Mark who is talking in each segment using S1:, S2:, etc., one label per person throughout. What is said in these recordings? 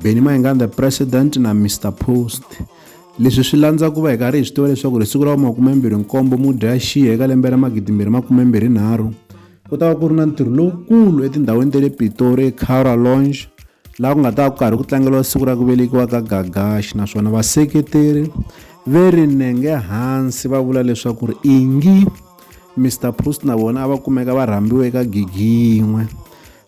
S1: Benny Mayenga the president na Mr Post leswi swi landza ku va hi karhi hi swi tiva leswaku ri siku ra makumembirhi nkombo mudyaxiya eka lembe ra magidimbirhi makumembirhi nharhu ku ta va ku ri na ntirho lowukulu etindhawini ta le pitori ecara longe laha ku nga ta va ku karhi ku tlangeriwa siku ra ku velekiwa ka gagaxi naswona vaseketeri ve ri nenge hansi va vula leswaku ri ingi mr post na vona a va kumeka va rhambiwe eka gigi yin'we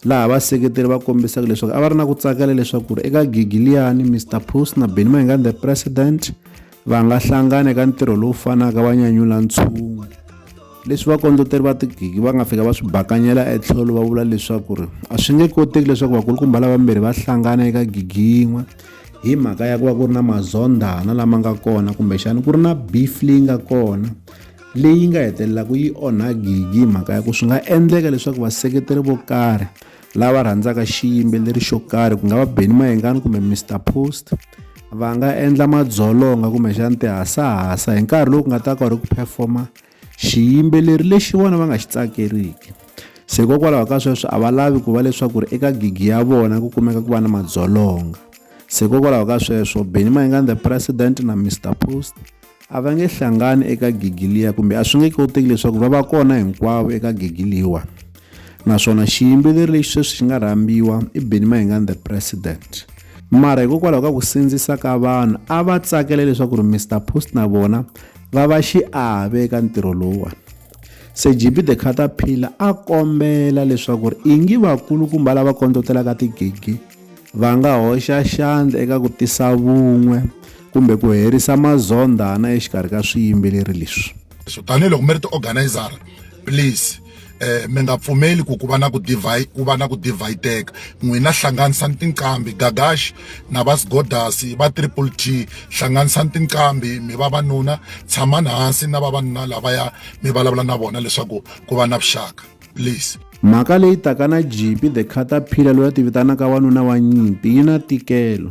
S1: laha vaseketeri va kombisaka leswaku a va ri na ku tsakela leswaku ri eka gigi liyani mr pus na beni mahinga the president va nga hlangana eka ntirho lowu fanaka va nyanyula ntshungu leswi vakondleteri va tigigi va nga fika va swi bakanyela etlhelo va vula leswaku ri a swi nge koteki leswaku vakulukumba lavambirhi va hlangana eka gigi yin'we hi mhaka ya ku va ku ri na mazondhana lama nga kona kumbexana ku ri na beef leyi nga kona leyi nga hetelelaka yi onha gigi hi mhaka ya ku swi nga endleka leswaku vaseketeri vo karhi lava rhandzaka xiyimbeleri xo karhi ku nga va beni mayengani kumbe mr post va nga endla madzolonga kumbexani tihasahasa hi nkarhi lowu ku nga ta ka ri ku performa xiyimbeleri lexi vona va nga xi tsakeriki se hikokwalaho ka sweswo a va lavi ku va leswaku ri eka gigi ya vona ku kumeka ku va na madzolonga se hikokwalaho ka sweswo beni mayengani the president na mr post A va nge hlangani eka gigi liya kumbe a swi nge koteki leswaku va va kona hinkwavo eka gigi liwa naswona xiyimbeleri lexi sweswi xi nga rhambiwa i Benny Mayengani the president mara hikokwalaho ka ku sindzisa ka vanhu a va tsakela leswaku ri Mr Post na vona va va xiave eka ntirho lowuwani se GB the Caterpillar a kombela leswaku ri ingi vakulukumba lava kondzotelaka tigigi va nga hoxa xandla eka ku tisa vun'we kumbe ku herisa mazondhana exikarhi ka swiyimbeleri leswi so tanihi loko mi ri
S2: ti-organizara please eh mi nga pfumeli ku ku va na ku divide ku va na ku divideka n'wina hlanganisani tinqambi gagash na va sgodasi va triple t hlanganisani tinqambi mi va vanuna tshamani hansi na vavanuna lavaya mi vulavula na vona leswaku ku va na vuxaka please mhaka leyi taka
S1: na jipi the caterpillar loyi a ti vitanaka wanuna wa nyimpi yi na tikelo